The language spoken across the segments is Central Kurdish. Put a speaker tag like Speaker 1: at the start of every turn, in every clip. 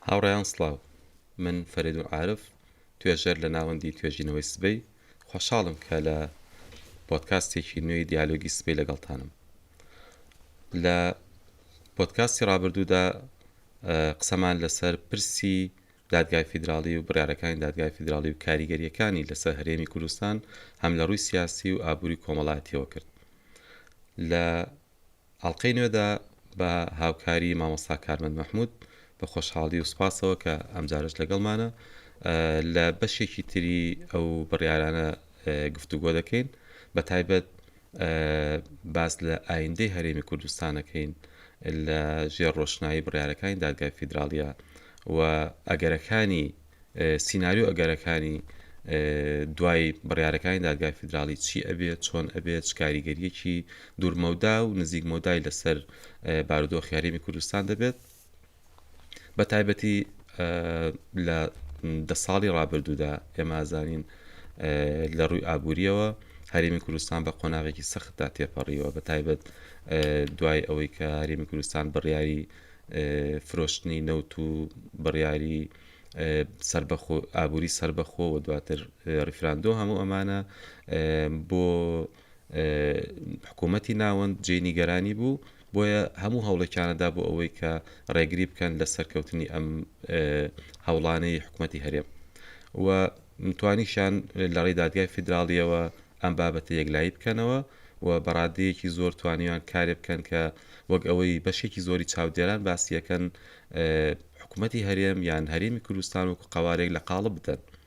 Speaker 1: هاوڕێیان سڵاو من فەرێد و عارف توێژەر لە ناوەندی توێژینەوەی سبەی خۆشحاڵم کە لە پۆدکاستێکی نوێی دیالۆگی سبەی لەگەڵتانم لە پۆدکاستی ڕابردوودا قسەمان لەسەر پرسی دادگای فیدراڵی و بڕیارەکانی دادگای فیدراڵی و کاریگەرییەکانی لەسەر هەرێمی کوردستان هەم لە ڕووی سیاسی و ئابووری و کۆمەڵایەتییەوە کرد. لە ئەڵقەی نوێدا بە هاوکاری مامۆستا کارمەند مەحموود بە خۆشحاڵی و سوپاسەوە کە ئەمجارەش لەگەڵمانە لە بەشێکی تری ئەو بڕیارانە گفتوگۆ دەکەین بە تایبەت باس لە ئایندەی هەرێمی کوردستان ئەکەین لە ژێر ڕۆشنایی بڕیارەکانی دادگای فیدراڵیە و ئەگەرەکانی سیناریۆ ئەگەرەکانی دوای بڕیارەکانی دادگای فیدراڵی چی ئەبێت چۆن ئەبێت کاریگەریەکی دوورمەودا و نزیک مەودای لەسەر بارودۆخ یاریمی کوردستان دەبێت بە تایبەتی لە دە ساڵی ڕابردوودا ئێمازانین لە ڕووی ئابوووریەوە هەرمی کوردستان بە قۆناغێکی سەختدا تێپەڕیوە بە تایبەت دوای ئەوەی کە هەرمی کوردستان بڕیاری فرۆشتنی نەوت و بڕیاری ئابووری سربەخۆ و دواتر ریفراندۆ هەموو ئەمانە بۆ حکوومەتی ناوەند جێی نیگەرانی بوو، بۆیە هەموو هەوڵێکیانە دا بۆ ئەوەی کە ڕێگری بکەن لە سەرکەوتنی ئەم هەوڵانەی حکوومەتی هەرێم و توانیشیان لە ڕێی دادگای فیدراڵییەوە ئەم بابەتە یەکلایی بکەنەوە و بە ڕاددەیەکی زۆر توانیان کارێ بکەن کە وەک ئەوەی بەشێکی زۆری چاودێران باسی ئەکەن حکوومەتی هەرێم یان هەرێمی کوردستان وەکوو قەوارەیەک لە قاڵب بدەن.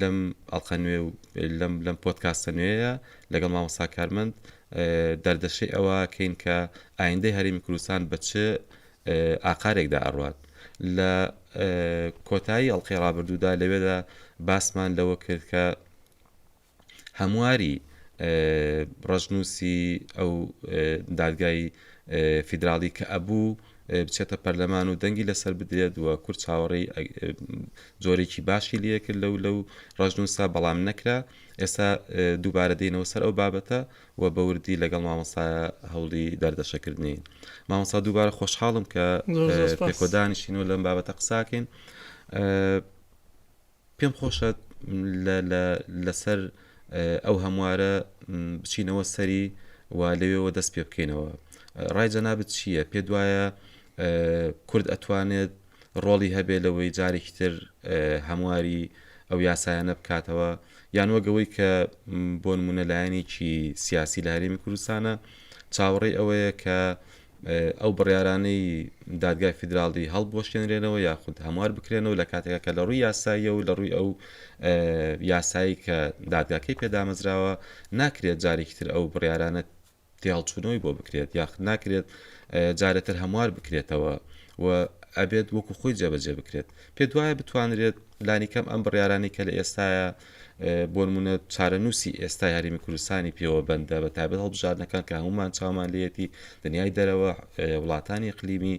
Speaker 1: لەم ئەڵقە نوێ و لەم لەم پۆدکاستە نوێیە لەگەڵ مامۆستا کارمەند دەردەشەی ئەوە کەین کە ئایندەی هەرێمی کوردستان بە چ ئاقارێکدا ئەڕوات لە کۆتایی ئەڵلقەی ڕابردوودا لەوێدا باسمان لەوە کرد کە هەمواری ڕەشنووسی ئەو دادگای فیدراڵی کە ئەبوو بچێتە پەرلەمان و دەنگی لەسەر بدرێت و کورد چاوەڕێی جۆرێکی باشی لەکرد لەو لەو ڕژنووسا بەڵام نەکرا ئێستا دووبارە دێنەوە سەر ئەو بابەتە و بەوردی لەگەڵ مامەسا هەوڵی دەردەشەکردنی مامەسا دووبارە خۆشحاڵم کە پێکۆدانیشین و لەم بابەتە قساکەین پێم خۆشە لەسەر ئەو هەموارە بچینەوە سەری و لەوێەوە دەست پێ بکەینەوە ڕای جەنابەت چییە پێ دوایە کورد ئەتوانێت ڕۆڵی هەبێ لەوەی جارێکی تر هەمواری ئەو یاسایانە بکاتەوە یان وەگەوەی کە بۆ نمونە لایەنێکی سیاسی لە هەرێمی کوردستانە چاوەڕێی ئەوەیە کە ئەو بڕیارانەی دادگای فیدراڵی هەڵبوەشێنرێنەوە یاخود هەموار بکرێنەوە لە کاتێکا کە لە ڕووی یاساییە و لە ڕووی ئەو یاسایی کە دادگاکەی پێدامەزراوە ناکرێت جارێکی تر ئەو بڕیارانە تێهەڵچوونەوەی بۆ بکرێت یاخود ناکرێت جارێتر هەموار بکرێتەوە و ئەبێت وەکو خۆی جێبەجێ بکرێت پێت وایە بتوانرێت لانیکەم ئەم بڕیارانەی کە لە ئێستایە بۆنمونە چارەنووسی ئێستا یاریمی کوردستانی پێوە بەندە بە تابێت هەڵبژاردنەکان کە هەمومان چاومان لەتی دنیای دەرەوە وڵاتانی قلیمی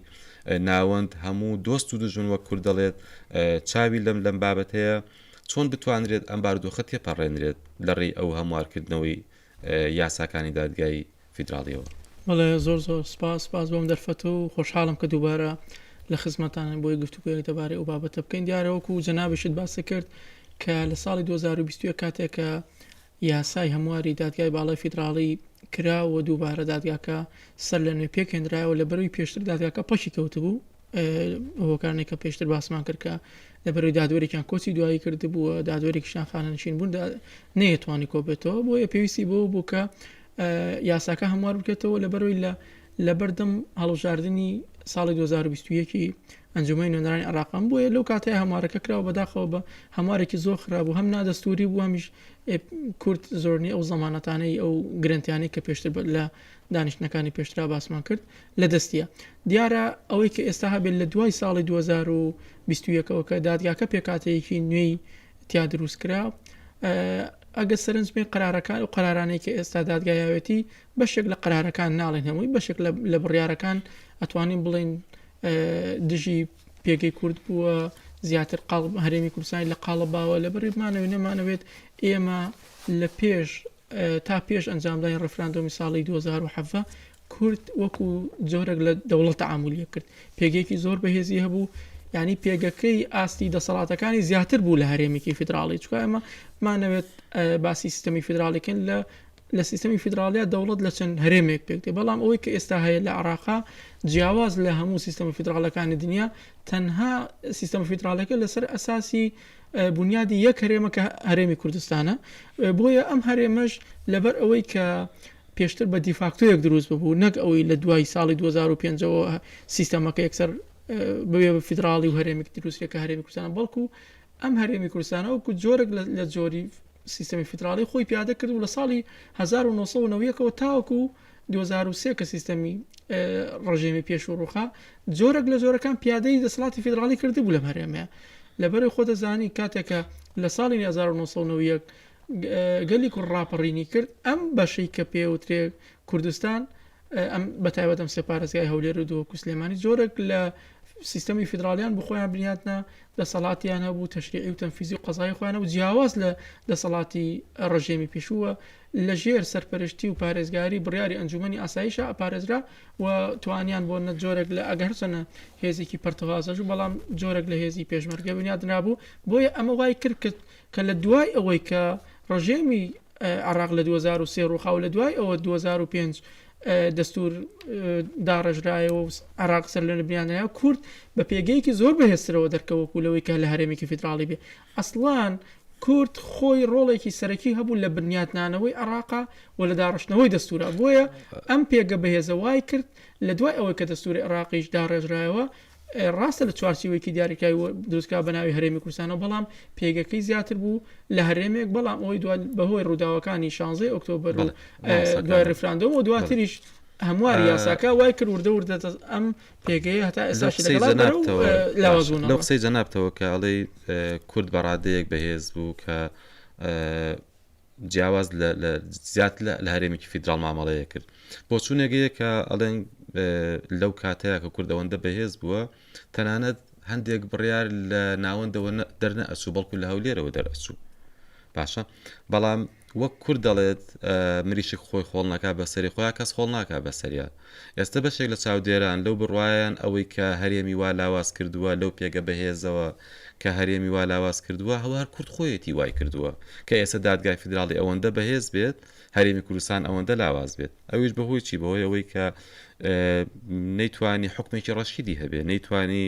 Speaker 1: ناوەند هەموو دۆست و دژون وە کورد دەڵێت چاوی لەم لەم بابەتەیە چۆن بتوانرێت ئەم باردۆخە تێپەڕێنرێت لە ڕێی ئەو هەموارکردنەوەی یاساکانی دادگای فیدراڵیەوە. بەڵێ زۆر
Speaker 2: زۆر سپاس سپاس بۆم دەرفەت و خۆشحاڵم کە دووبارە لە خزمەتانن بۆی گفتوگۆیەک دەبارەی ئەو بابەتە بکەین دیارە وەکو جەنابیشت باسی کرد کە لە ساڵی 2021 کاتێک کە یاسای هەمواری دادگای باڵای فیدراڵی کرا و دووبارە دادگاکە سەر لە نوێ پێکهێنرایەوە لە بەروی پێشتر دادگاکە پەکی کەوتبوو هۆکارنێک کە پێشتر باسمان کرد کە لە بەرەوەی دادوەرێکیان کۆچی دوایی کرد بووە دادوەرێکیشان خانەنشین بوون نەیەتوانی کۆبێتەوە بۆیە پێویستی بۆ بوو کە یاساکە هەموار بکێتەوە لە بەرەوەی لە لە بەردەم هەڵبژاردننی ساڵی 2021ی ئەنجومی نوێنەرانی عراقم بووە لەو کاتەیە هەمارەکە کراوە بەداخەوە بە هەمارێکی زۆر خرابوو هەم نادەستوری بوو هەمیش کورت زۆرنی ئەو زمانەتانەی ئەو گرنتیانی کە پێشتر لە دانیشتنەکانی پێشترا باسمان کرد لە دەستیە دیارە ئەوەی کە ئێستا هەبێت لە دوای ساڵی 2021ەوە کە دادگاکە پێکاتەیەکی نوێی تیا دروست کرا ئەگە سەرنجبێ قرارەکان و قرارانەی کە ئێستا دادگایەتی بەشێک لە قرارەکان ناڵێن هەمووی بەشێک لە بڕارەکان ئەتوانین بڵین دژی پێگەی کورد بووە زیاتر قاڵ هەرێمی کوردستانی لە قاڵە باوە لە بەرمانەوە نەمانەوێت ئێمە لە پێش تا پێش ئەنجامدانی ڕیفراندۆمی ساڵی 2017 کورد وەکو جۆرەك لە دەوڵەت تعاملیە کرد پێگەیەکی زۆر بەهێزی هەبوو ینی پێگەکەی ئاستی دەسەڵاتەکانی زیاتر بوو لە هەرێمێکی فیدراڵی چکە ئەمە مانەوێت باسی سیستمی فیدراڵیکن لە لە سیستمی فیدراالیا دەوڵەت لە چەند هەرێمێک پێکتێ بەڵام ئەوەی کە ئێستا هەیە لە عراقا جیاواز لە هەموو سیستەمە فیدراالەکانی دنیا تەنها سیستەم فیدراالەکە لەسەر ئەساسی بونیادی یەک هەرێمە کە هەرێمی کوردستانە بۆیە ئەم هەرێمەش لەبەر ئەوەی کە پێشتر بە دیفاکتۆیەک دروست ببوو نەک ئەوەی لە دوای ساڵی 2005ەوە سیستەمەکە یەکسەر بوێ بە فیدراڵی و هەرێمێک دروستێک کە هەرێمی کوردستان بەڵکو ئەم هەرێمی کوردستانە وەکو جۆرێک لە جۆری سیستەمی فیدراڵی خۆی پیادە کرد و لە ساڵی 1990ەوە تاوەکو دوو هەزار و سێ کە سیستەمی ڕژێمی پێشوو ڕووخا جۆرەک لە جۆرەکان پیادەی دەسەڵاتی فیدراڵی کردبوو لەم هەرێمەیە لەبەر خۆ دەزانی کاتێکە لە ساڵی 1990 گەلی کوڕ ڕاپەڕینی کرد ئەم بەشەی کە پێوترێک کوردستان ئەم بەتایبەت ئەم سێپارێزگای هەولێر و دووەکو سلێمانی جۆرەك لە سیستەمی فیدراالیان بخۆیان بنیاتنا دەسەڵاتیان هەبوو تەشریعی و تەنفیزی و قەزای خۆیانە و جیاواز لە دەسەڵاتی ڕژێمی پێشووە لەژێر سەرپەرشتی و پارێزگاری بڕیاری ئەنجوومەنی ئاسایشە ئەپارێزرا و توانیان بۆ نە جۆرێک لە ئەگە هەرچەنە هێزێکی پەرتەوازەش و بەڵام جۆرێک لە هێزی پێشمەرگە بنیادنابوو بۆیە ئەمە وای کرد کرد کە لە دوای ئەوەی کە ڕژێمی عێراق لە 2023 ڕووخا و لە دوای ئەوە 2005 دەستور داڕێژرایەوە و عێراق سەر لە بنیادنرا کورد بە پێگەیەکی زۆر بەهێزترەوە دەرکەوەکو لەوەی کە لە هەرێمێکی فیدراڵی بێ ئەسڵان کورد خۆی ڕۆڵێکی سەرەکی هەبوو لە بنیاتنانەوەی عێڕاقا و لە داڕشتنەوەی دەستوورا، بۆیە ئەم پێگە بەهێزە وای کرد لە دوای ئەوەی کە دەستووری عێڕاقیش داڕێژرایەوە، ڕاستە لە چوارچێوەیەکی دیاریکراوی دروستکرا بە ناوی هەرێمی کوردستانەوە، بەڵام پێگەکەی زیاتر بوو لە هەرێمێک، بەڵام ئەوەی دوا بە هۆی ڕووداوەکانی شانزەی ئۆکتۆبەر و دوای ڕیفراندۆم و دواتریش هەمواری یاساکە وای کرد وردە وردە ئەم پێگەیە هەتا ئێستاش
Speaker 1: لەو قسەی جەنابتەوە کە ئەڵێ کورد بە ڕادەیەک بەهێز بوو کە جیاواز زیات لە هەرێمێکی فیدرال مامەڵەیە کرد بۆ چوونێگەیە کە ئەڵێن لەو کاتەیە کە کوردەوەندە بەهێز بووە تەنانەت هەندێک بڕیار لە ناوەندەوە دەرنە ئەچوو بەڵکو لە هەولێرەوە دەرئەچوو باشە بەڵام وەک کورد دەڵێت مریشک خۆی خۆڵ نەکا بە سەری خۆیا کەس خۆڵ ناکا بە سەریا ئێستە بەشێک لە چاودێران لەو بڕوایەن ئەوەی کە هەرێمی وا لاواز کردووە لەو پێگە بەهێزەوە کە هەرێمی وا لاواز کردووە ئەوە هەر کورد خۆیەتی وای کردووە کە ئێستە دادگای فیدراڵی ئەوەندە بەهێز بێت هەرێمی کوردستان ئەوەندە لاواز بێت ئەویش بەهۆی چی بەهۆی ئەوەی کە نەیتوانی حکومێکی ڕەشیدی هەبێ نەیتوانی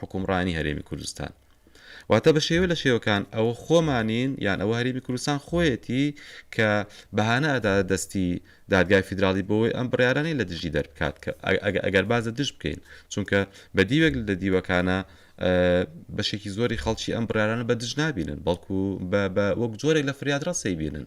Speaker 1: حوکمڕانی هەرێمی کوردستان. واتە بە شێوە لە شێوەکان ئەوە خۆمانین یان ئەوە هەرێمی کوردستان خۆیەتی کە بەهانە ئەداتە دەستی دادگای فیدراڵی بۆوەی ئەم بڕیارانەی لە دژی دەربکات کە ئەگەر باز لە دژ بکەین چونکە بە دیوێک لە دیوەکانە بەشێکی زۆری خەڵکی ئەم بڕیارانە بە دژ نابینن بەڵکو بە وەک جۆرێک لە فریادڕەس سەیبینن.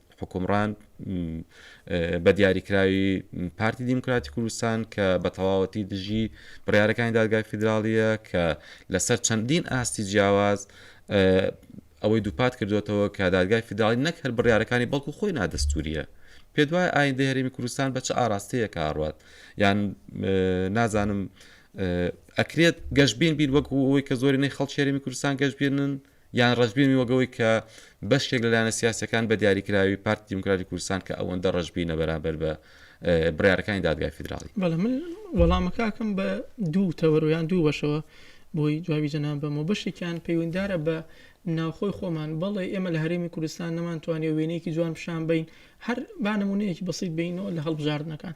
Speaker 1: حوکمڕان بە دیاریکراوی پارتی دیموکراتی کوردستان کە بە تەواوەتی دژی بڕارەکانی دادگای فیدراالیە کە لەسەر چەندین ئاستی جیاواز ئەوەی دووپات کردوێتەوە کە دادگای فیدراالی نەک هەر بڕارەکانی بەڵکو خۆی نادەستوریە پێ دوای ئاین دەهرمی کوردستان بە چ ئاراستەیە کاڕات یان نازانم ئەکرێت گەشتبین بین وەکو ئەوەی کە زۆرینەی خەڵکێرمی کوردستان گەشتبێنن یان ڕەشبینی وەک ئەوەی کە بەشێک لە لایەنە سیاسییەکان بە دیاریکراوی پارتی دیموکراتی کوردستان کە ئەوەندە ڕەشبینە بەرامبەر بە بڕیارەکانی دادگای فیدراڵی. بەڵێ من
Speaker 2: وەڵامە کاکەم بە دوو تەوەر و یان دوو بەشەوە بۆی جوابی جەنابەمەوە بەشێکیان پەیوەندارە بە ناوخۆی خۆمان بەڵێ ئێمە لە هەرێمی کوردستان نەمانتوانێ وێنەیەکی جوان پیشان بین هەر بانەمونەیەکی بەسیت بینەوە لە هەڵبژاردنەکان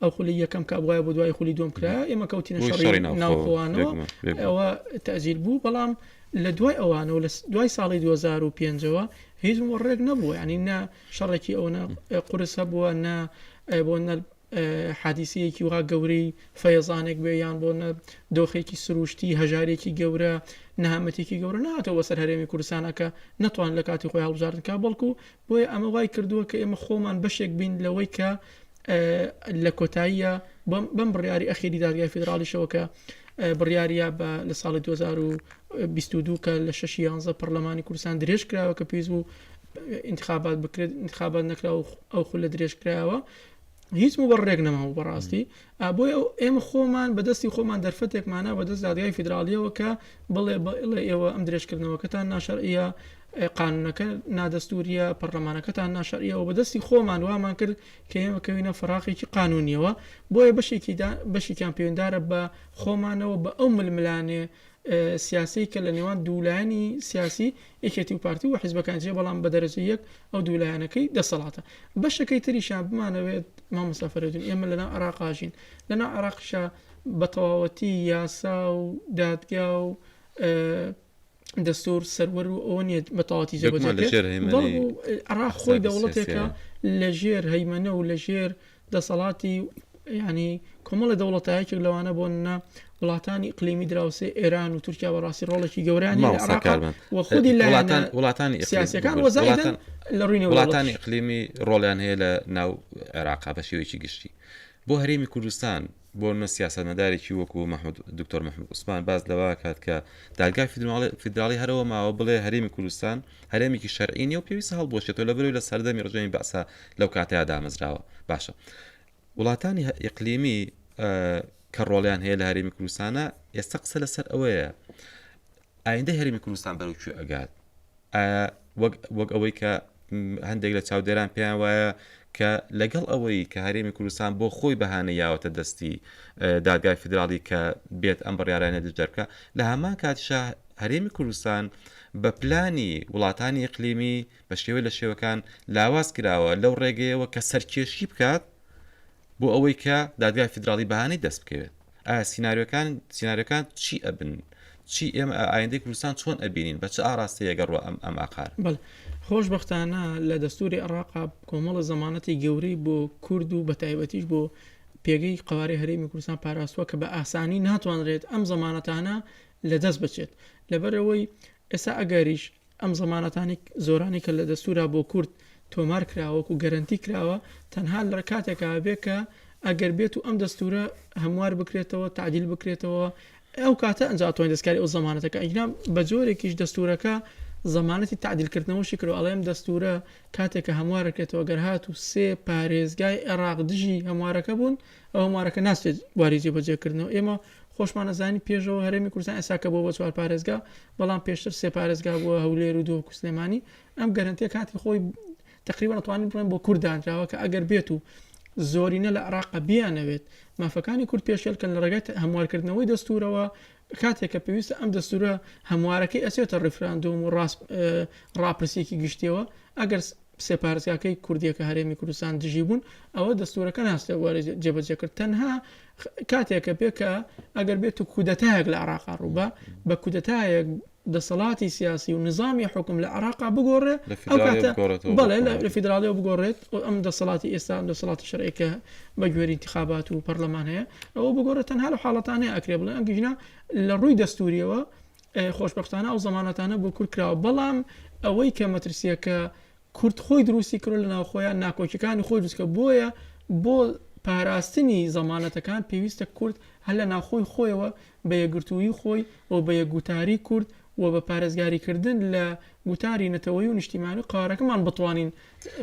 Speaker 2: ئەو خولی یەکەم کابواە بۆ دوای خولی دوم کرا ئێمە کەوتینە شەڕی ناوخۆوانەوە ئەوە تەجیل بوو بەڵام لە دوای ئەوانەوە لە دوای ساڵی 2005ەوە هیچ ڕێک نەبووە ینی نە شەڕێکی ئەوە قرس هەبووە نە بۆ نە حادیسەیەکی وها گەورەی فەیەزانێک بێ یان بۆ نە دۆخێکی سروشتی هەژارێکی گەورە نەهامەتێکی گەورە ناتەوە سەر هەرێمی کوردستانەکە نەتوان لە کاتی خۆی هەڵبژاردنکە بەڵکو بۆیە ئەمە وای کردووە کە ئێمە خۆمان بەشێک بین لەوەی کە لە کۆتاییە بەم بڕیاری ئەخیری دادگای فیدراڵیشەوە کە بڕیاریە بە لە ساڵی 2022 کە لە 6 11 پەرلەمانی کوردستان درێژ کراوە کە پێویست بوو انتخابات بکرێت انتخابات نەکرا و ئەو خول لە درێژ کراوە هیچ و بەڕێک نەماوە بەڕاستی ئابۆی ئەو ئێمە خۆمان بەدەستی خۆمان دەرفەتێکمانە بەدەست دادگای فیدراالیەوە کە بڵێ بڵێ ئێوە ئەم درێژکردنەوەکەتان ناشەرە قانونەکە نادەستوریە، پەڕلەمانەکەتان ناشەرعیە و بەدەستی خۆمان وامان کرد کە ئێمە بکەوینە فەراقێکی قانونیەوە، بۆیە بەشێکی دا بەشێکیان پەیوەندارە بە خۆمانەوە بە ئەو ململانێ سیاسەی کە لە نێوان دوو لایەنی سیاسی یەکێتی و پارتی و حیزبەکان جێ بەڵام بە دەرەجە یەک ئەو دوو لایەنەکەی دەسەڵاتە بەشەکەی تریشان بمانەوێت مامۆستا فەرەدون ئێمە لەناو عێراقاژین لەناو عێراقشا بە تەواوەتی یاسا و دادگا و دەستور سەروەر و ئەوە نیە بە تەواتی جێ بەجێ بکرێت بەڵکو عێراق خۆی دەوڵەتێکە لە ژێر هەیمەنە و لە ژێر دەسەڵاتی ینی کۆمەڵە دەوڵەتایەکێک لەوانە بۆن نە وڵاتانی قلیمی دراوسێ ئێران و تورکیا بەڕاستی ڕۆڵێکی گەورانی و خودی لەڵاتان وڵاتانی
Speaker 1: سیاسەکان وەزارەتان
Speaker 2: لە ڕووی وڵاتانی قلیمی
Speaker 1: ڕۆڵیان هەیە لە ناو عێراقا بە شێوەیەکی گشتی بۆ هەرێمی کوردستان بۆ نمونە سیاسەتمەدارێکی وەکو دکتۆر محمود عوسمان باس لەوەکات کە دادگای فیدراڵی هەرەوە ماوە بڵێ هەرێمی کوردستان هەرێمێکی شەرعی نیە و پێویست هەڵبوەشێتەوە لە بەرەوەی لە سەردەمی ڕژێمی بەعسا لەو کاتەیە دامەزراوە باشە وڵاتانی ئیقلیمی کە ڕۆڵیان هەیە لە هەرێمی کوردستانە ئێستا قسە لەسەر ئەوەیە ئایندەی هەرێمی کوردستان بەرەو کوێ ئەگات ئایا وەک ئەوەی کە هەندێک لە چاودێران پێیان وایە کە لەگەڵ ئەوەی کە هەرێمی کوردستان بۆ خۆی بەهانە یاوەتە دەستی دادگای فدراڵی کە بێت ئەم بڕیارانە دەرکە لە هەمان کاتشە هەرێمی کوردستان بە پلانی وڵاتانی ئەقلیمی بە شێوە لە شێوەکان لاواز کراوە لەو ڕێگەیەوە کە سەرکێشی بکات بۆ ئەوەی کە دادگای فیدراڵی بەهانەی دەست بکەوێت ئایا سیناریۆکان سیناریۆکان چی ئەبن چی ئێمە ئایندەی کوردستان چۆن ئەبینین بە چ ئاراستەیەگە ڕوە ئەم ئەم ئاقار بەڵێ خۆشببختانە
Speaker 2: لە دەستوری عراقا کۆمەڵە زمانەتی گەورەی بۆ کورد و بە تایبەتیش بۆ پێگەی قوارەی هەرێمی کوردستان پاراستوە کە بە ئاسانی ناتوانرێت ئەم زمانەتانە لە دەست بچێت لەبەرەوەی ئێستا ئەگەریش ئەم زەمانەتانی زۆرانەی کە لە دەستوورا بۆ کورد تۆمار کراوە و گەرەنتی کراوە تەنها لە کاتێکا ئەبێ کە ئەگەر بێت و ئەم دەستوورە هەموار بکرێتەوە تعدیل بکرێتەوە ئەو کاتە ئەنجا توانین دەستکاری ئەو زەمانەتەکە ئەگینا بە جۆرێکیش دەستوورەکە زەمانەتی تعدیلکردنەوەشی کرد ئەڵێم دەستوورە کاتێکە هەموارەکرێتەوە گەر هات و سێ پارێزگای عێراق دژی هەموارەکە بوون ئەو هەموارەکە ناچێت بواری جێبەجێکردنەوە ئێمە خۆشمان ئەزانی پێشەوە هەرێمی کوردستان ئێستا کە بۆوە بە چوار پارێزگا بەڵام پێشتر سێ پارێزگا بووە هەولێر و دهۆک و سلێمانی ئەم گەرەنتیە کاتی خۆی تقریبا ئەتوانین بڵێن بۆ کورد دانراوە کە ئەگەر بێت و زۆرینە لە عراق بیانەوێت مافەکانی کورد پێشێلکەن لە ڕێگەت هەموارکردنەوەی دەستورەوە کاتێک کە پێویستە ئەم دەستورە هەموارەکەی ئەسێتە ڕیفراندۆم و ڕاست ڕاپرسێکی گشتیەوە ئەگەر سێ پارێزگاکەی کوردیەکە هەرێمی کوردستان دژی بوون ئەوە دەستورەکە ناستێ وەری جێبەجێ کرد تەنها کاتێکە بێ کە ئەگەر بێت و کودەتایەک لە عراقا ڕووبە بە کودەتایەک دەسەڵاتی سیاسی و نظامی حکم لە عراقا بگۆڕێ بەڵێ لە فیدراالیەوە بگۆڕێت ئەم دەسەڵاتی ئێستا دەسەڵاتی شەرێکە بە گوێری انتخابات و پەرلەمان هەیە ئەوە بگۆڕێت تەنها لە حاڵەتانەیە ئەکرێ بڵێ ئەم گژنا لە ڕووی دەستوریەوە خۆشبەختانە ئەو زەمانەتانە بۆ کورد کراوە بەڵام ئەوەی کە مەترسیە کە کورد خۆی دروستی کرۆ لە ناوخۆیان ناکۆکیەکانی خۆی دروستکە بۆیە بۆ پاراستنی زەمانەتەکان پێویستە کورد هەل لە ناخۆی خۆیەوە بە یەگرتووی خۆی و بە یەکگوتاری کورد و بە پارێزگاریکردن لە گوتاری نەتەوەی و نیشتیمانی قارەکەمان بتوانین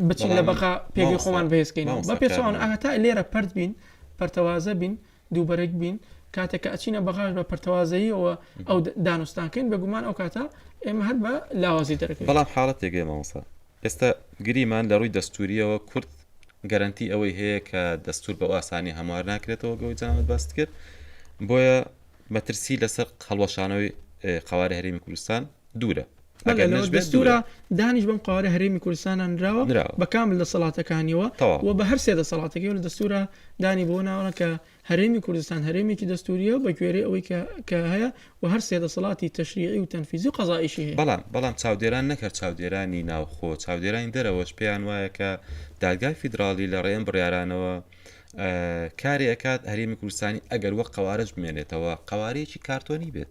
Speaker 2: بچین لە بەقا پێگەی خۆمان بەهێزکەین بە پێچوان ئاتا لێرە پرد بین پەرتەوازە بین دووبەرەک بین کاتێک کە ئەچینە بەغاش بە پەرتەوازەییەوە ئەو دانوستانکەین بەگومان ئەو کاتە ئێمە هەر بە لاوازی دەرەکە بەڵام حاڵەت تێگەی مامۆسا
Speaker 1: ئێستا گریمان لە ڕووی دەستوریەوە کورد گەرنتی ئەوەی هەیە کە دەستور بە ئاسانی هەموار ناکرێتەوە گەوەی جەنابەت باست کرد بۆیە مەترسی لەسەر هەڵوەشانەوەی قوارە هەرێمی کوردستان دوورە ئەگەر نەش بێت دوورە.
Speaker 2: لەوە دەستوورە دانیش بەم قەوارە هەرێمی کوردستانە نراوە نراوە. بە کامل دەسەڵاتەکانیەوە تەواو. و بە هەر سێ دەسەڵاتەکەی و لە دەستوورا دانی بەوە ناوە کە هەرێمی کوردستان هەرێمێکی دەستوورییە و بە گوێرەی ئەوەی کە کە هەیە و هەر سێ دەسەڵاتی تەشریعی و تەنفیزی و قەزائیشی هەیە. بەڵام بەڵام چاودێران نەک
Speaker 1: هەر چاودێرانی ناوخۆ چاودێرانی دەرەوەش پێیان وایە کە دادگای فیدراڵی لە ڕێی ئەم بڕیارانەوە ئە کارێ ئەکات هەرێمی کوردستانی ئەگەر وەک قەوارەش بمێنێتەوە قەوارەیەکی کارتۆنی بێت.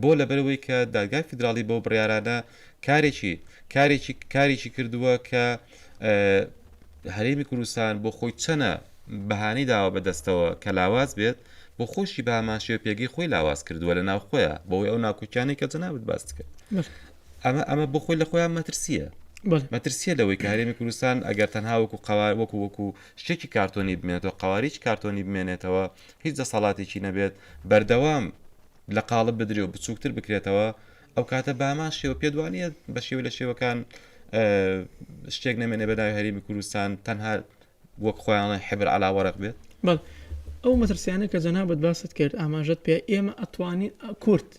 Speaker 1: بۆ؟ لەبەرئەوەی کە دادگای فیدراڵی بەو بڕیارانە کارێکی کارێکی کارێکی کردووە کە هەرێمی کوردستان بۆ خۆی چەنە بەهانەی داوە بە دەستەوە کە لاواز بێت بۆ خۆشی بە هەمان شێوە پێگەی خۆی لاواز کردووە لە ناو خۆیە بۆی ئەو ناکوکیانەی کە جەنابت باست کرد ئەمە ئەمە بۆ خۆی لە خۆیان مەترسیە مەترسیە لەوەی کە هەرێمی کوردستان ئەگەر تەنها وەکو قوار وەکو وەکو شتێکی کارتۆنی بمێنێتەوە قواریی کارتۆنی بمێنێتەوە هیچ دەسەڵاتێکی نەبێت بەردەوام لە قاڵب بدرێ و بچووکتر بکرێتەوە ئەو کاتە بامان شێوە پێ دوانە بە شێوە لە شێوەکان شتێک نامێنێ بەداوی هەرمی کوردستان تەنها وەک خۆیانڵی حبر علا وەرق بێت بەڵ ئەو
Speaker 2: مەترسیانە کە جەنابەت باست کرد ئاماژەت پێ ئێمە ئەتوانین کورت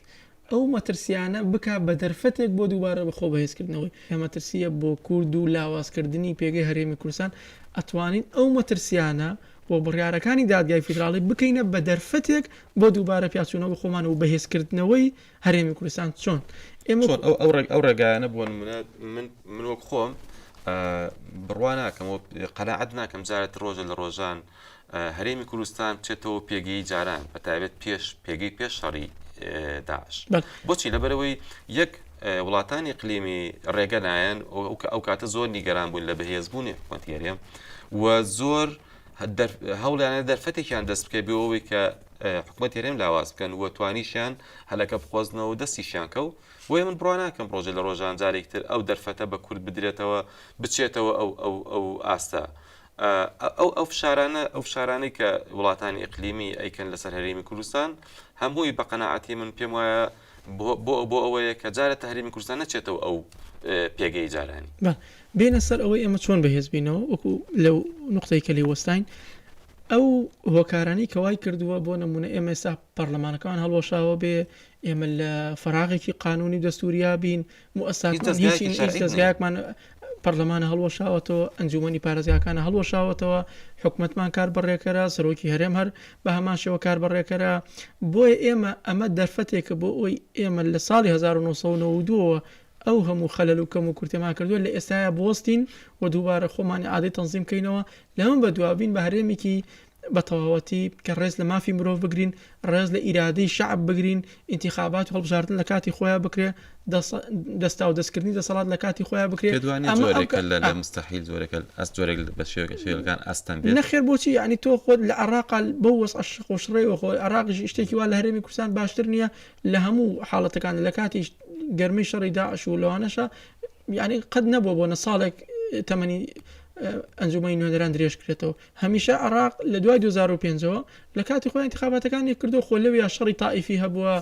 Speaker 2: ئەو مەترسیانە بک بە دەرفەتێک بۆ دووبارە بەخۆ بەهێزکردنەوەی ئەمەترسیە بۆ کورد و لاوازکردنی پێگەی هەرێمی کوردستان ئەتوانین ئەو مەترسیانە و بڕارەکانی دادگای فیدراڵی بکەینە بە دەرفەتێک بۆ دووبارە پیاچوونەوە بە خۆمان و بەهێزکردنەوەی هەرێمی کوردستان چۆن ئێمە. چۆن ئەو ئەو
Speaker 1: ئەو ڕێگایانە بۆ نمونە من من وەک خۆم بڕوا ناکەم و قەناعەت ناکەم جارێت ڕۆژە لە ڕۆژان هەرێمی کوردستان بچێتەوە پێگەی جاران بە تایبەت پێش پێگەی پێش شەڕی داعش بەڵێ. بۆچی لەبەرەوەی یەک اه، وڵاتانی قلیمی ڕێگە نایەن ئەو- ئەو کاتە زۆر نیگەران بوون لە بەهێزبوونی حکومەتی هەرێم و زۆر هەوڵیانە دەرفەتێکیان دەست بکەێت بۆ ئەوەی کە حکوومەت هێرێم لاواز بکەن و توانیشیان هەلەکە بخۆزنەوە دەستیشیان کەو بۆیە من بڕواناکەم ڕۆژە لە ڕۆژان جارێکتر ئەو دەرفەتە بە کورد بدرێتەوە بچێتەوە ئەو ئەو ئەو ئاستە. ئەو ئەو فشارانە ئەو فشارانەی کە وڵاتانی ئەقلیمی ئەیکەن لەسەر هەرێمی کوردستان هەمووی بە قەنەعاتی من پێم وایە بۆ بۆ ئەوەیە کە جارێ تەهریمی کوردستان نەچێتەوە ئەو پێگەی جارانی. بە بێنە سەر
Speaker 2: ئەوەی ئێمە چۆن بەهێز بینەوە وەکو لەو نقطەی کە لێی وەستاین ئەو هۆکارانی کە وای کردووە بۆ نمونە ئێمە ئێستا پەرلەمانەکەمان هەڵوەشاوە بێ ئێمە لە فەراغێکی قانونی دەستوریا بین موئەسساکمان هیچ دەزگایەکی شەرعی نیە. دەزگایەکمان پەرلەمانە هەڵوەشاوەتەوە، ئەنجوومەنی پارێزگاکانە هەڵوەشاوەتەوە، حکومەتمان کار بەڕێکەرە، سەرۆکی هەرێم هەر بە هەمان شێوە کار بەڕێکەرە. بۆیە ئێمە ئەمە دەرفەتێکە بۆ ئەوەی ئێمە لە ساڵی هەزار و نۆ سەد و نەوەد و دوو ەوە ئەو هەموو خەلەل و کەم و کورتیمان کردووە لە ئێستایا بوەستین و دووبارە خۆمان ئیعادەی تەنزیم کەینەوە، لەمە بەدوا بین بە هەرێمێکی بە تەواوەتی کە ڕێز لە مافی مرۆڤ بگرین، ڕێز لە ئیرادەی شەعب بگرین، ئینتیخابات و هەڵبژاردن لە کاتی خۆیان بکرێ، دەس دەستاودەستکردنی دەسەڵات لە کاتی خۆیان بکرێ. پێت وانیە جۆرێکە لە لە
Speaker 1: مستەحیل جۆرێکە ئەس جۆرێک بە شێوەکە شێوەکان ئەستەم بێت؟ نەخێر بۆچی یانی تۆ
Speaker 2: خۆت لە عەڕاقا بەو وەزعە شڕق و شڕەیەوە خۆ عەڕاقیش شتێکی وا لە هەرێمی کوردستان باشتر نییە لە هەموو حاڵەتەکان لە کاتی گەرمەی شەڕی داعش و لەوانەشە یانی قەت نەبووە بۆ نە ساڵێک تەمەنی ئەنجومەنی نوێنەران درێژ کرێتەوە هەمیشە عێراق لە دوای دوو هەزار و پێنج ەوە لە کاتی خۆی ئینتخاباتەکانی کردووە خۆ لەویا شەڕی تائیفی هەبووە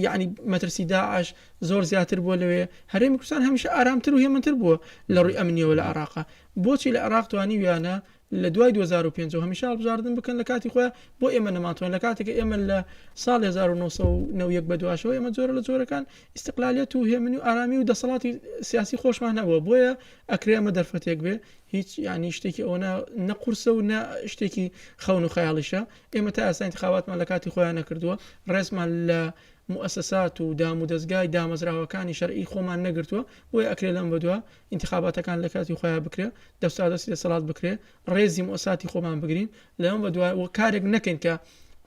Speaker 2: یعنی مەترسی داعش زۆر زیاتر بووە لەوێ هەرێمی کوردستان هەمیشە ئارامتر و هێمنتر بووە لە ڕووی ئەمنیەوە لە عێراق بۆچی لە عێراق توانیویانە لە دوای دوو هەزار و پێنج ەوە هەمیشە هەڵبژاردن بکەن لە کاتی خۆیان بۆ ئێمە نەمانتوان لە کاتێک ئێمە لە ساڵ 1990 بە دواشەوە ئێمە جۆرە لە جۆرەکان ئیسقلالیت و هێمنی و ئارامی و دەسەڵاتی سیاسی خۆشمان هەبووە بۆیە ئەکرێ ئەمە دەرفەتێک بێ هیچ یانی شتێکی ئەوەنە نە قورسە و نە شتێکی خەون و خەیاڵیشە ئێمە تا ئاسانی خاواتمان لە کاتی خۆیان نەکردووە ڕێزمان لە موسسات و دام و دەستگای دامەزراوەکانی شەرعی خۆمان نەگرتووە بۆی ئەکرێ لەم بەدووە انتخاباتەکان لە کاتی خۆیان بکرێ دەستا دەستی دەسەڵات بکرێ ڕێزی موساتی خۆمان بگرین لەم بە دوای وە کارێک نەکەین کە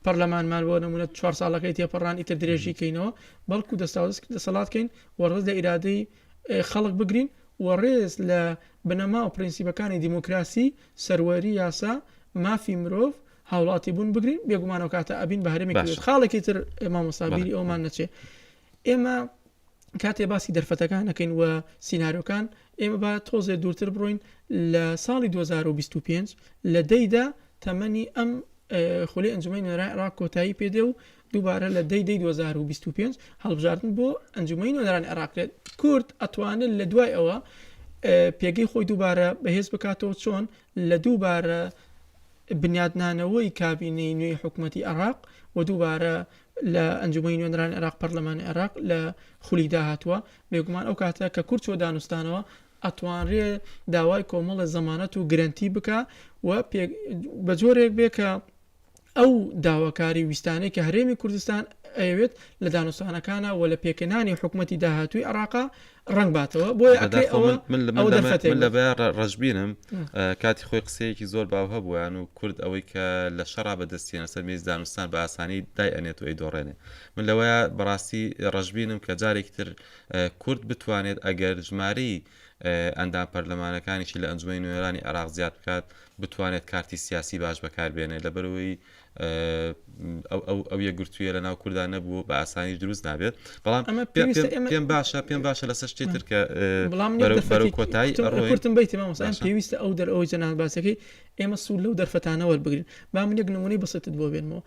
Speaker 2: پەرلەمانمان بۆ نمونە چوار ساڵەکەی تێپەڕان ئیتر درێژی کەینەوە بەڵکو دەستا دەسەڵات کەین وەڕز لە ئیرادەی خەڵک بگرین و ڕێز لە بنەما و پرینسیپەکانی دیموکراسی، سەروەری یاسا، مافی مرۆڤ، هاوڵاتی بوون بگرین، بێگومان ئەوکاتە ئەبین بە هەرێمێکی باشە. خاڵێکی تر مامۆستا بیری بەڵێ. ئەوەمان نەچێ ئێمە کاتێ باسی دەرفەتەکان ئەکەین و سینارۆکان ئێمە با تۆزێ دوورتر بڕۆین لە ساڵی دوو هەزار و بیست و پێنج لە دەیدا تەمەنی ئەم ئێ، خولی ئەنجومەنی نوێنەرای عێراق کۆتایی پێدێ و دووبارە لە دەی دەی دوو هەزار و بیست و پێنج هەڵبژاردن بۆ ئەنجومەی نوێنەرانی عێراق کرێت کورد ئەتوانن لە دوای ئەوە پێگەی خۆی دووبارە بەهێز بکاتەوە چۆن لە دووبارە بنیادنانەوەی کابینەی نوێی حکوومەتتی عێراق و دووبارە لە ئەنجومی نوێنران عێراق پەرلەمان عێراق لە خولی داهاتوە بێگومان ئەو کاتە کە کورچ و دانوستانەوە ئەتوانرێ داوای کۆمەڵە زەمانەت و گرنتی بکە و بە جۆرێک بێ کە ئەو داواکاری و ویستانەی کە هەرێمی کوردستان ئەیەوێت لە دانوستانەکانا و لە پێکهێنانی حکومەتی داهاتووی عێراقا ڕەنگ باتەوە بۆیە ئەکرێ ئەوە ئەوە دەرفەتێک
Speaker 1: من لەبەیان ڕە- ڕەشبینم ئە، کاتی خۆی قسەیەکی زۆر باو هەبوویان و کورد ئەوەی کە لە شەڕا بەدەستیەنە سەر مێزی دانوستان بە ئاسانی دای ئەنێت و ئەیدۆڕێنێ من لەوەیا بەڕاستی ڕەشبینم کە جارێکی تر ئە، کورد بتوانێت ئەگەر ژمارەی ئەندام پەرلەمانەکانیشی لە ئەنجومەنی نوێنەرانی عێراق زیاد بکات بتوانێت کارتی سیاسی باش بەکاربێنێت لەبەرەوەی ئەو ئەو یەکگرتوویە لە ناو کورددا نەبوو بە ئاسانی دروست نابێت بەڵام ئەمە پێم باشە پێم باشە لەسەر شتێ ترکە بڵام کۆتایی ڕۆتم بیت مامۆسان
Speaker 2: پێویستە ئەو دەر ئەوەی جەنان باسەکەی ئێمە سوود لەو دەرفەتانە وەربگرن با من یەک نمونەی بەسەتت بۆ بێنمەوە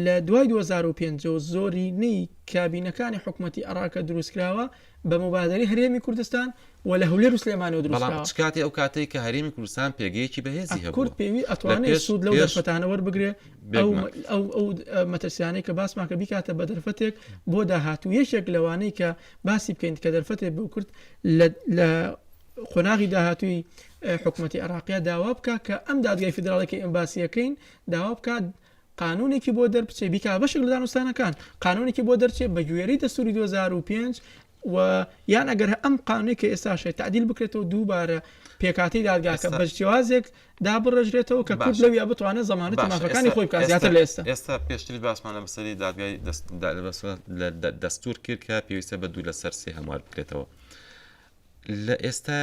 Speaker 2: لە دوای 2005 زۆری نەی کابینەکانی حکوومەتتی عراقە دروستکراوە بە موبادەرەی هەرێمی کوردستان و لە هەولێر و سلێمانیەوە دروست کراوە. بەڵام چ کاتێ ئەو کاتەی کە
Speaker 1: هەرێمی کوردستان پێگەیەکی بەهێزی هەبووە. کورد پێوی ئەتوانێ
Speaker 2: سوود لەو دەرفەتانە وەربگرێ ئەو مەترسیانەی کە باسمان کرد بیکاتە بە دەرفەتێک بۆ داهاتوو. یەکێک لەوانەی کە باسی بکەین کە دەرفەتێ بۆ کورد لە قۆناغی داهاتووی حکومەتی عێراقیە داوا بکا کە ئەم دادگای فیدراڵی کە ئێمە باسیەکەین داوا بکات قانونێکی بۆ دەربچێ بیکا بەشێک لە دانوستانەکان قانونێکی بۆ دەرچێ بە گوێرەی دەستوری 2005 و یان ئەگەر ئەم قانونی کە ئێستاشێت تعدیل بکرێتەوە دووبارە پێکاتی دادگاکە بە جیازێک دابڕژرێتەوە کە کورد لەویا بتوانێت زمانە تەماخەکانی خۆی بکات زیاتر لە ئێستا ئێستا پێشتری باسمان
Speaker 1: لە مەسەری دادگای دەستور کرد کە پێویستە بە دوو لەسەر سێ هەموار بکرێتەوە لە ئێستا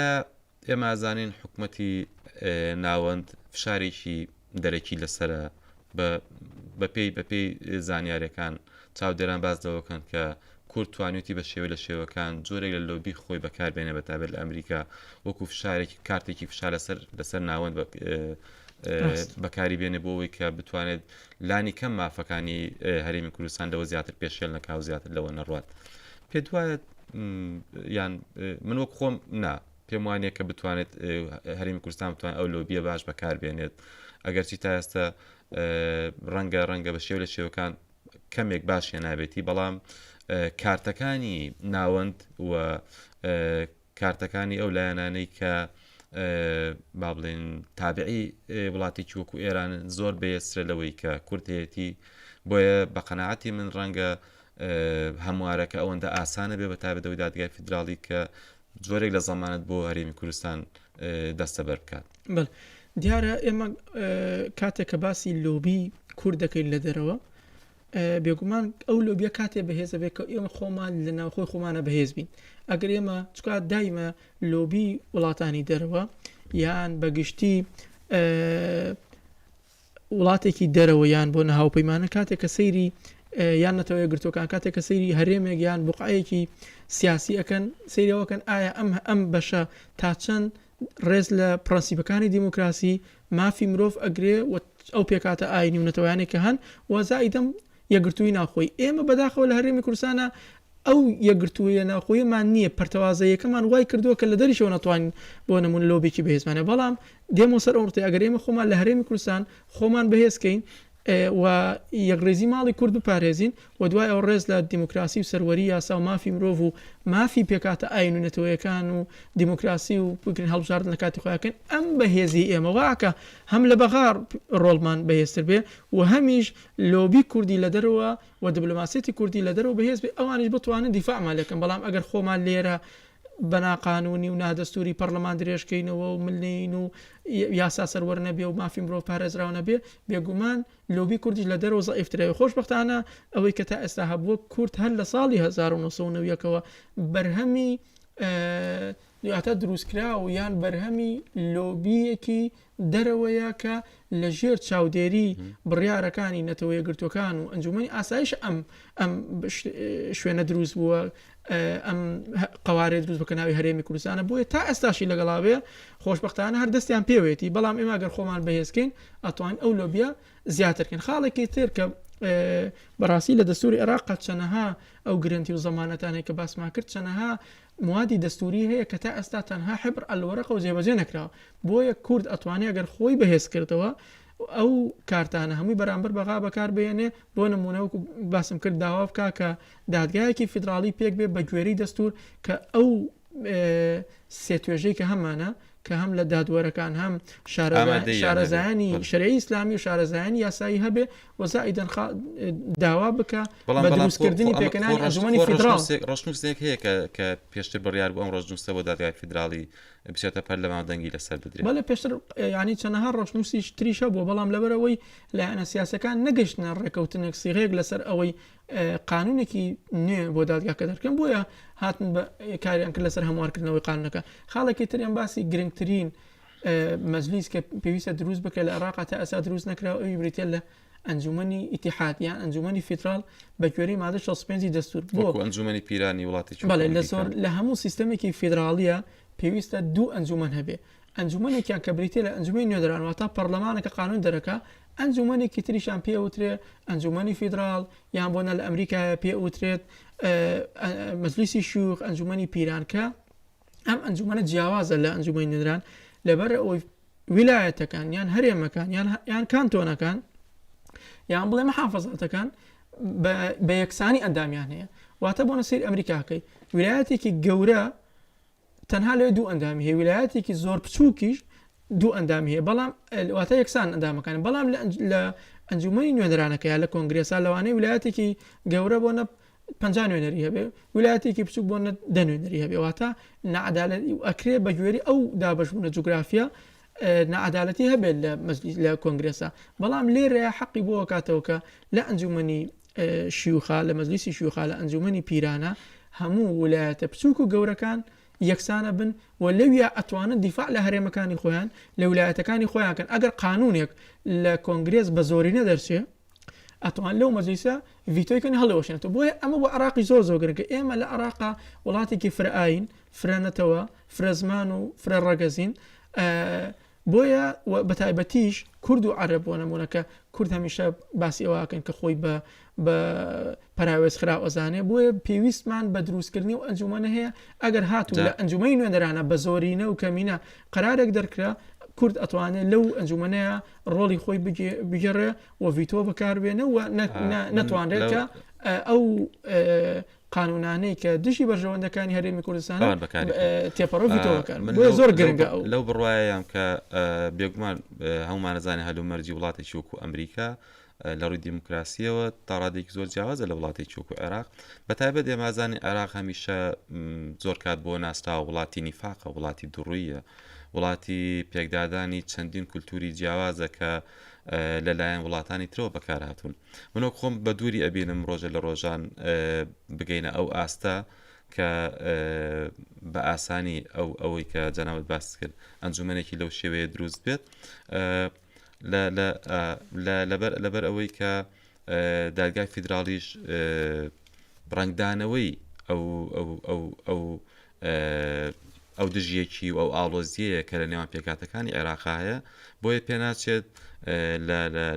Speaker 1: ئێمە ئەزانین حکومەتی ناوەند فشارێکی دەرەکی لەسرە بەپی بەپی زانیارەکان چاودێران باز دەوەکەن کە کورد توانێتی بە شێوە لە شێوەکان جۆرێک لە لۆبی خۆی بەکاربێنە بە تابێت لە ئەمریکا وەکو فشارێکی کارتێکی فشار لەسەر لەسەر ناوەند بەکاری بێنێ بۆەوەی کە بتوانێت لانی کەم مافەکانی هەرێمی کوردستان لەوە زیاتر پێشێل نەکاو زیاتر لەوە نەڕات پێ دوایە یان من وەک خۆم نا پێم وانە کە بتوانێت هەرمی کوردستان بتوان ئەو لۆبیە باش بەکاربێنێت ئەگەرچی تا ئێستا ڕەنگە ڕەنگە بە شێو لە شێوەکان کەمێک باش هێنابێتی بەڵام کارتەکانی ناوەند و کارتەکانی ئەو لایەنانەی کە با بڵێن تابعی وڵاتێکی وەکو ئێران زۆر بەێسرە لەوەی کە کورتەتی بۆیە بە قەنەعاتی من ڕەنگە هەموارەکە ئەوەندە ئاسانە بێ بە تابێت ئەوەی دادگای فیدراڵی کە جۆرێک لە زەمانەت بۆ هەرێمی کوردستان دەستە بەر بکات دیارە
Speaker 2: ئێمە کاتێک کە باسی لۆبی کورد دەکەین لە دەرەوە بێگومان ئەو لۆبیە کاتێ بەهێزە بێت کە ئێمە خۆمان لە ناوخۆی خۆمانە بەهێز بین ئەگەر ئێمە چکا دایمە لۆبی وڵاتانی دەرەوە یان بەگشتی وڵاتێکی دەرەوە یان بۆ نە هاوپەیمانە کاتێک کە سەیری یان نەتەوە یەکگرتووەکان کاتێک کە سەیری هەرێمێک یان بقعەیەکی سیاسی ئەەکەن سەیرەوەکەن ئایا ئەم ئەم بەشە تا چەند ڕێز لە پرەنسیپەکانی دیموکراسی مافی مرۆڤ ئەگرێ و ئەو پێکاتە ئاینی و نەتەوەیانێک کە هەن وەزایدەم یەگرتووی ناوخۆی ئێمە بەداخەوە لە هەرێمی کوردستانە ئەو یەکگرتوویە ناوخۆیەمان نییە، پەرتەوازەییەکەمان وای کردووە کە لە دەریشەوە نەتوانین بۆ نموونە لۆبیەکی بەهێزمان هەیە، بەڵام دێمەوە سەر ئەو نقطەیە ئەگەر ئێمە خۆمان لە هەرێمی کوردستان خۆمان بەهێز کەین و یەکڕیزی ماڵی کورد بپارێزین و دوای ئەوە ڕێز لە دیموکراسی و سەروەری یاسا و مافی مرۆڤ و مافی پێکهاتە ئایین و نەتەوەیەکان و دیموکراسی و بگرن هەڵبژاردن لە کاتی خۆیان کەین ئەم بەهێزی ئێمە وا ئەکا هەم لە بەغا ڕۆڵمان بەهێزتر بێ و هەمیش لۆبی کوردی لە دەرەوە و دبلۆماسیەتی کوردی لە دەرەوە بەهێز بێت ئەوانیش بتوانن دیفاعمان لێ بکەن بەڵام ئەگەر خۆمان لێرە بە ناقانوونی و نادەستووری پەڕڵەمان درێژ کەینەوە و ملنێین و یاسا سەروەر نەبێ و مافی مرۆڤ پارێزراو نەبێ بێگومان لۆبی کوردیش لە دەرەوە زەعیفترە وێ خۆشبەختانە ئەوەی کە تا ئێستا هەبووە کورد هەر لە ساڵی 1990ەوە بەرهەمی دواتە دروستکرا و یان بەرهەمی لۆبیەکی دەرەوەیە کە لە ژێر چاودێری بڕیارەکانی نەتەوە یەکگرتووەکان و ئەنجوومەنی ئاسایش ئەم ئەم شوێنە دروست بووە ئەم قوارێ دروست بکە ناوی هەرێمی کوردستانە بۆیە تا ئێستاشی لەگەڵاوێ خۆشببختانە هەر دەستیان پێوێتی بەڵام ئێمە گەر خۆمان بەهێزکەین ئەتوان ئەو لۆبیا زیاترکەن خاڵێکی تر کە بەڕاستی لە دەستوری عێراق چەنەها ئەو گرنتی و زمانەتانێک کە باسمان کرد چەنەها موادی دەستووری هەیە کە تا ئێستا تەنها حبر الورقە و جێبەجێ نەکراوە بۆیە کورد ئەتوانێ ئەگەر خۆی بەهێز کردەوە ئەو کارتانە هەمووی بەرامبەر بەغا بەکار بێنێ بۆ نمونە وەکو باسم کرد داوا بکا کە دادگایەکی فیدراڵی پێک بێ بە گوێری دەستور کە ئەو سێتوێژەی کە هەمانە کە هەم لە دادوەرەکان هەم شارەزایانی شەرعی ئیسلامی و شارەزایانی یاسایی هەبێ وزائیدەن خا داوا بکە بەڵام بەڵام دروستکردنی پێکەنانی ئەنجومەنی فیدراڵ ڕشنووسێک هەیە کە
Speaker 1: کە پێشتر بڕیار بۆ ئەم ڕۆژنووسە بۆ دادگای فیدراڵی بچێتە پەرلەمان دەنگی لەسەر بدرێت بەڵێ پێشتر ینی
Speaker 2: چەنەها ڕۆشنووسیش تریشە بۆ بەڵام لەبەرەوەی لایەنە سیاسەکان نەگەشتە ڕێکەوتنێک سیغێک لەسەر ئەوەی قانونێکی نوێ بۆ دادگاکە دەکەن بۆیە هاتن بە کاریان کرد لەسەر هەموارکردنەوەی قانونەکە خاڵێکی تریان باسی گرنگترین مەجلیس کە پێویستە دروست بکە لە عێراقا تا ئەسا دروست نەکراوە ئەوی بریتە لە ئەنجومنی ئیتحاد یان ئەنجومنی فیدرال بە کوێری مادە 65 دەستور بۆ ئەنجومنی پیرانی
Speaker 1: وڵاتی بەڵێ لە زۆر لە
Speaker 2: هەموو سیستمێکی فیدراالیە پێویستە دوو ئەنجومەن هەبێ ئەنجومەنێکیان کە بریتە لە ئەنجومی نوێدران واتا پەرلەمانەکە قانون دەرەکە ئەنجومەنێکی تریشان پێ وترێ ئەنجومەنی فیدرال یان بۆنە لە ئەمریکایە پێ وترێت مەجلیسی شوخ ئەنجومەنی پیرانکە ئەم ئەنجومەنە جیاوازە لە ئەنجومی نوێنران لەبەر ئەوەی ویلایەتەکان یان هەرێمەکان یان یان کانتۆنەکان یان بڵێ مەحافظاتەکان بە یەکسانی ئەندامیان هەیە واتە بۆ نەسیر ئەمریکاکەی ویلایەتێکی گەورە تەنها لێ دوو ئەندامی هەیە ویلایەتێکی زۆر بچووکیش دوو ئەندامی هەیە بەڵام واتە یەکسان ئەندامەکانی بەڵام لە ئەنجومی نوێنەرانەکە یا لە کۆنگرێسا لەوانەیە ویلایەتێکی گەورە بۆ نە پ نوێنەری هەبێ ویلایەتێکی بچوک بۆ نە دەنوێنەری هەبێ واتە نەعادالەت ئەکرێ بە گوێری ئەو دابشبوونە جوگرافیا نەعادالەتی هەبێت لە مەجلیس لە کۆنگرێسا بەڵام لێرە حەقی بۆ کاتەوە کە لە ئەنجومنی شیوخا لە مەجلیسی شیوخا لە ئەنجومنی پیرانە هەموو ویلایەتە بچوک و گەورەکان یەکسانە بن و لەویا ئەتوانن دیفاع لە هەرێمەکانی خۆیان لە ولایەتەکانی خۆیان کەن ئەگەر قانونێک لە کۆنگرێس بە زۆرینە دەرچێ ئەتوان لەو مەجلیسە ڤیتۆی کەن هەڵێوەشێنێتەوە بۆیە ئەمە بۆ عراقی زۆر زۆر گرنگە ئێمە لە عراقا وڵاتێکی فرە ئاین فرە نەتەوە فرە زمان و فرە ڕەگەزین بۆیە و بەتایبەتیش کورد و عەرەب بۆ نموونە کە کورد هەمیشە باسی ئەوە ئەکەن کە خۆی بە بە پەراوێز خراو ئەزانێ بۆیە پێویستمان بە دروستکردنی و ئەنجومەنە هەیە ئەگەر هاتو دا. لە ئەنجومەی نوێنەرانە بە زۆرینە و کەمینە قەرارێک دەرکرا کورد ئەتوانێ لەو ئەنجومەنەیا ڕۆڵی خۆی بگێ بگێڕێ و ڤیتۆ بەکاربێنێ و نە نە نەتوانرێت کە ئەو قانونانەی کە دژی بەرژەوەندەکانی هەرێمی کوردستان تێپەڕۆ زۆر گرنگە ئەو لەو بڕواایەم کە
Speaker 1: بێگومان هەمومانەزانانی هەلومەرجی وڵاتی چوک و ئەمریکا لە ڕووی دیموکراسیەوە تاڕادێکی زۆر جیاوازە لە وڵاتی چوک و عێراق بە تایبەت ئێمازانی عێراق هەمیشە زۆر کات بۆ ناستا وڵاتی نیفاقە وڵاتی دڕویە وڵاتی پێکدادانی چەندین کولتوری جیاوازە کە لەلایەن وڵاتانی ترەوە بەکارهاتون. من وەک خۆم بە دووری ئەبینم ڕۆژە لە ڕۆژان بگەینە ئەو ئاستە کە بە ئاسانی ئەو ئەوەی کە جەناوت باس کرد ئەنجومەنێکی لەو شێوەیە دروست بێت لەبەر ئەوەی کە دادگای فیدراالیش ڕنگدانەوەی ئەو ئەو ئەو دژیەکی و ئەو ئاڵۆزیەیە کە لە نێوان پێکاتەکانی عێراقا هەیە بۆیە پێناچێت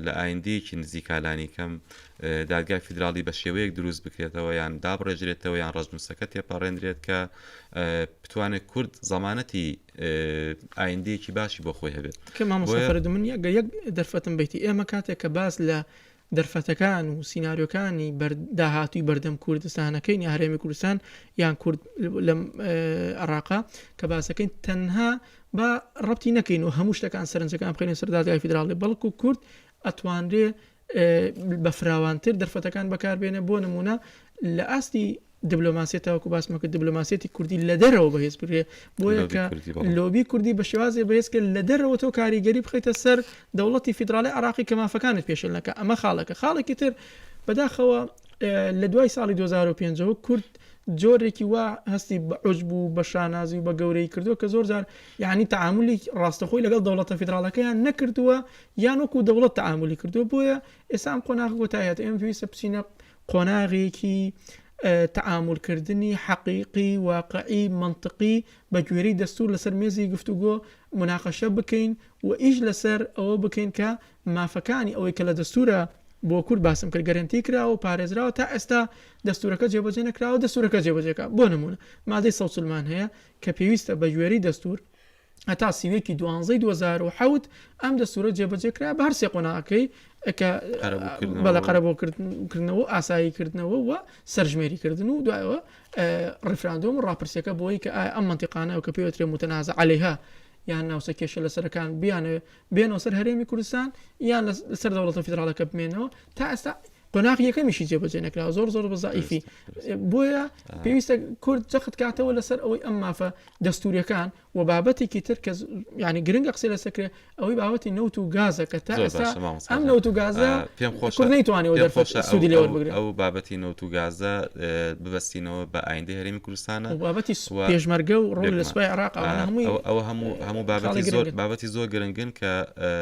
Speaker 1: لە ئایندەیەکی نزیکالانی کەم دادگای فیدراڵی بە شێوەیەک دروست بکرێتەوە یان دابڕێژرێتەوە یان ڕزموسەکە تێپەڕێنرێت کە بتوانێت کورد زەمانەتی ئایندەیەکی باشی بۆ خۆی هەبێت من
Speaker 2: یەک دەرفەتم بیتی ئێمە کاتێک کە باس لە دەرفەتەکان و سیناریۆکانی داهاتووی بەردەم کوردستانەکەین یا هەرێمی کوردستان یان کورد لەم عێراقە کە باسەکەین تەنها با ڕەتی نەکەین و هەموو شتەکان سەرنجەکان بخێنە سەر دادگای فیدراڵی بەڵکو و کورد ئەتوانرێ بە فراوانتر دەرفەتەکان بەکاربێنە بۆ نمونە لە ئاستی دبلۆماسیە تاوەکو باسمە کرد دبلۆماسیەتی کوردی لە دەرەوە بەهێز بگرێ بۆیە کە لۆبی کوردی بە شێوازێ بەهێز کرد لە دەرەوە تۆ کاریگەری بخیتە سەر دەوڵەتی فیدراالی عراقی کە مافەکانت پێشلەکە ئەمە خاڵەکە خاڵێکی تر بەداخەوە لە دوای ساڵی 2005ەوە کورد جۆرێکی وا هەستی بە عۆج بوو بە شانازی و بە گەورەی کردو کە زۆر جار یعنی تعاملی ڕاستەخۆی لەگەڵ دەوڵەتە فیدراڵەکەیان نەکردووە یان وەکو دەوڵەت تعاملی کردو بۆیە ئێسام قۆناغ گۆتایەت ئێم پێویستە بچینە قۆناغێکی تەعامولکردنی حەقیقی، واقعی، مەنتقی بە گوێرەی دەستوور لەسەر مێزی گفتوگۆ موناقەشە بکەین و ئیش لەسەر ئەوە بکەین کە مافەکانی ئەوەی کە لە دەستوورە بۆ کورد باسم کرد گەرەنتی کراوە و پارێزراوە تا ئێستا دەستوورەکە جێبەجێ نەکراوە دەستوورەکە جێبەجێکە بۆ نموونە مادەی سەوسلمان هەیە کە پێویستە بە گوێرەی دەستوور هەتا سینەکی دوانزەی دوو هەزار و حەوت ئەم دەستورە جێبەجێ کرا بە هەر سێ قۆناغەکەی کە بەڵێ قەرەبوو کردنەوە و ئاسایی کردنەوە و سەرژمێری کردن و دوایەوە ڕیفراندۆم و ڕاپرسیەکە بۆی کە ئەم منتیقانەوە کە پێوترێ متەنازە عەلەیها یان ناوسە کێشە لەسەرەکان بیانێ بێنەوە سەر هەرێمی کوردستان یان لە سەر دەوڵەتە فیدراڵەکە بمێنەوە تا ئێستا قۆناغ یەکەمیشی جێبەجێ نەکرا زۆر زۆر بەزایفی بۆیە پێویستە کورد جەخت کاتەوە لەسەر ئەوەی ئەم مافە دەستوریەکان و بابەتێکی تر کە ینی گرنگە قسە لەسەکرێ ئەوەی باوەتی نەوت و گازە کە تا ئەم نەوت و گازە پێم خۆش
Speaker 1: نەیتوانانی
Speaker 2: سودی لێوە بگرێت ئەو بابەتی نەوت و
Speaker 1: گازە ببستینەوە بە ئایندە هەرمی کوردستانە و بابەتی
Speaker 2: پێشمەرگە و ڕۆڵی لە سوپای عێراق ئەوانە هەمووی ئەوە هەموو
Speaker 1: هەموو بابەتی خاڵی زۆر گرنگن. بابەتی زۆر گرنگن کە ئە،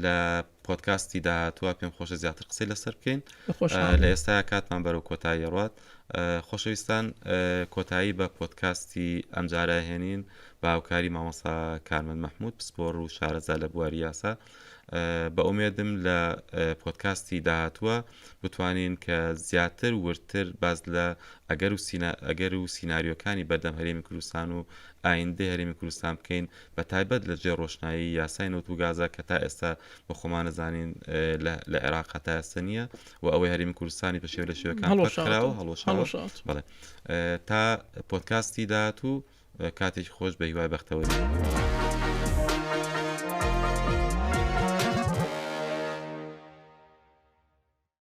Speaker 1: لە پۆدکاستی داهاتووە پێم خۆشە زیاتر قسەی لەسەر بکەین بە خۆشحاڵی. لە ئێستا کاتمان بەرەو کۆتایی ئەڕوات ئە، خۆشەویستان ئە، کۆتایی بە پۆدکاستی ئەمجارە ئەهێنین بە هاوکاری مامۆستا کارمەند مەحموود پسپۆڕ و شارەزا لە بواری یاسا. بە ئومێدم لە پۆدکاستی داهاتووە بتوانین کە زیاتر وردتر باس لە ئەگەر و ئەگەر و سینناریۆکانی بەردەم هەرێمی کوردستان و ئایندە هەرێمی کوردستان بکەین بە تایبەت لە جێ ڕۆشنایی یاسای نەوت و گازە کە تا ئێستا بە خۆمانەزانین لە عێراق تا ئێستا نییە و ئەوەی هەرێمی کوردستانی بە شێو لە شێوەکان هەڵۆشاوە هەڵۆشاوە تا پۆدکاستی داهاتوو کاتێکی خۆش بە هیوای بەختەوەری